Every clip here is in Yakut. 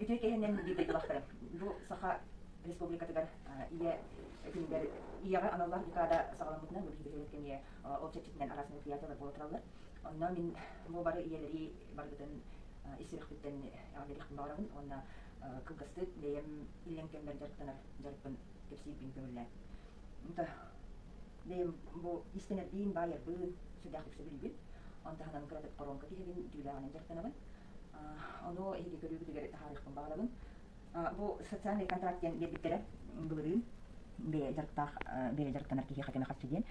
Үтүө киһинэн биир дойдулаахтарым, бу Саха Республикатыгар ийэ күнүгэр ийэҕэ аналлаах декада саҕаламмытынан бу биһиги кэмҥэ ол чэрчитинэн араас мероприятиелар буола тураллар. Онно мин бу бары ийэлэри барытын ис сүрэхпиттэн эҕэрдэлиэхпин баҕарабын уонна кылгастык бэйэм иллэҥ кэммэр дьарыктанар дьарыкпын кэпсиирбин көҥүллээн. Бэйэм бу иистэнэрбиин, баайарбын сүрдээх үксэ билэбин. Оны таһынан кыратык коронка тиһэбин, дьүүлээҕинэн дьарыктанабын. Ону иһиги көрүүбүтүгэр таһаарыахпын баҕарабын. Бу социальный контракт диэн биэрбиттэрэ былырыын бэйэ дьарыктаах бэйэ дьарыктанар киһи хотя хасчы диэн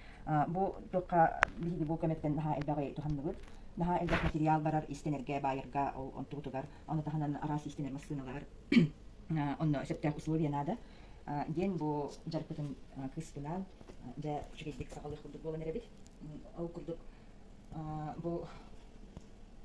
бу туохха биһиги бу көмөттөн наһаа элбэҕи туһанныбыт наһаа элбэх материал барар истэнэргэ баайарга ол онтубутугар ону таһынан араас истэнэр массыыналар онно сөптөөх условия наада диэн бу дьарыкпытын кыыспынаан дьэ үчүгэйдик саҕалыах курдук буолан эрэбит ол курдук бу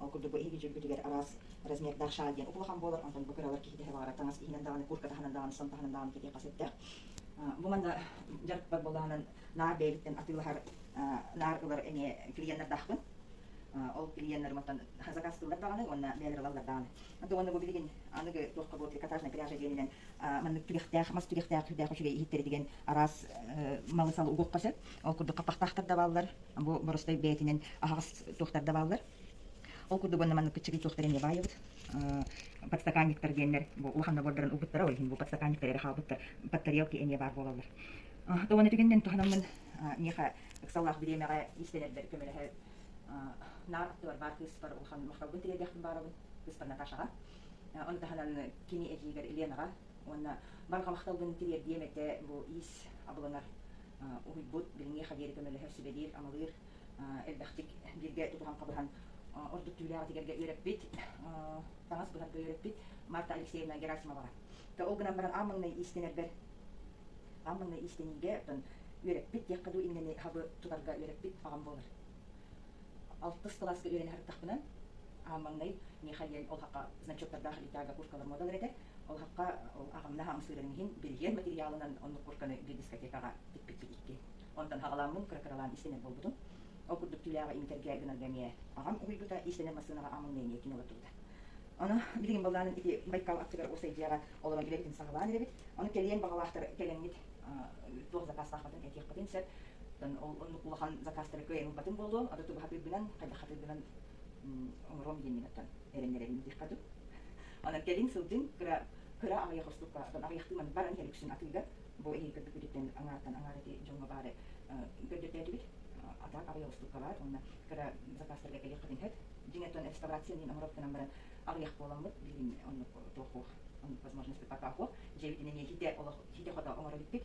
Ол курдук бу эһиги дьүүлгүтүгэр араас размердаах шал диэн улахан буолар, онтон бу кыралар киһитэ баҕара таҥас иһинэн даҕаны, куртка таһынан даҕаны, сом таһынан даҕаны кэтиэх хас эттээх. Бу манна дьарыкпар буоллаҕынан наар бэйэбиттэн атыылаһар наар ылар эмиэ клиеннэрдаахпын. Ол клиеннэр мантан заказ ыллар даҕаны уонна бэйэлэр ылаллар даҕаны. Онтон уонна бу билигин аныгы туохха буолар трикотажная пряжа диэнинэн маннык түгэхтээх мас түгэхтээх үрдээх үчүгэй иһиттэритигэн араас малысал угуохха сөп ол курдук хаппахтаахтар да бааллар бу боростой бэйэтинэн аһаҕас туохтар да бааллар ол курдук уонна маннык кыччыгый туохтар эмиэ баайабыт подстаканниктар диэннэр улахан набордарын угуттара ол иһин бу подстаканниктар эрэ хаалбыттар под тарелки эмиэ баар буолаллар тоҕон этигэннэн туһанаммын миэхэ ыксаллаах бириэмэҕэ иистэнэрбэр көмөлөһө наар аттыбар баар кыыспар улахан махталбын тириэрдиэхпин баарабын кыыспар Наташаҕа Ол таһынан кини этиигэр Ленаҕа уонна барҕа махталбын тириэрдиэм этэ бу иис абылаҥар уһуйбут, билиҥҥи Хавери көмөлөһөр, сүбэлиир, амалыыр элбэхтик бииргэ тутуһан хабыһан ордук түүлээҕи тигэргэ үөрэппит, таҥас быһарга үөрэппит Марта Алексеевна Герасимоваҕа. Ол гынан баран аан маҥнай иистэнэрбэр аан маҥнай иистэниигэ оттон үөрэппит диэххэ дуу иннэни хабы тутарга үөрэппит аҕам буолар. алтыс кылааска үөрэнэ сырыттахпына маҥнай Миха диэн ол хахха значоктардаах итальга курткалар модалар этэ ол хахха ол аҕамна хаамсыырын иһин биригиэн материалынан оннук куртканы дискотекаҕа тикпиппит икки онтон хаҕаламмын кыракыралаан истэнэр буолбутум ол курдук түүлээҕи имитэргэ гынарга эмиэ аҕам уһуйбута истэнэр массыынаҕа амылны эмиэ кино олортубута ону билигин былаанын ити байкал аттыгар усайдьыйаҕа олорон үлэбитин саҕалаан эрэбит ону кэлиэн баҕалаахтар кэлэҥҥит туох закаастаахпытын этиэхпитин сөп ол оннук улахан закастары кыайымпатым буолуо аты тугахатыырбынан хайдахатыырбынан оҥоруом диэммин оттон эрэннэрэбин диэххэ дуу онон кэлин сылдьын кыра кыра аҕыйах орсукка оттон аҕыйахтыы маннык баран иһэр үксүн атыыга бу эһиги көрдүккүтүттэн аҥаартан аҥаара ити дьоҥҥо баары көрдөртөөтүгүт атаак аҕыйах орстукка баар уонна кыра закастарга кэлиэххитин сөп дьиҥэ оттон реставрация диэн оҥоробутунан баран аҕыйах буоламмыт билигин оннук туохуох оннук возможность пока хуох дьиэбитинэн иһитэ олох иһитэ хото оҥоро бүппүт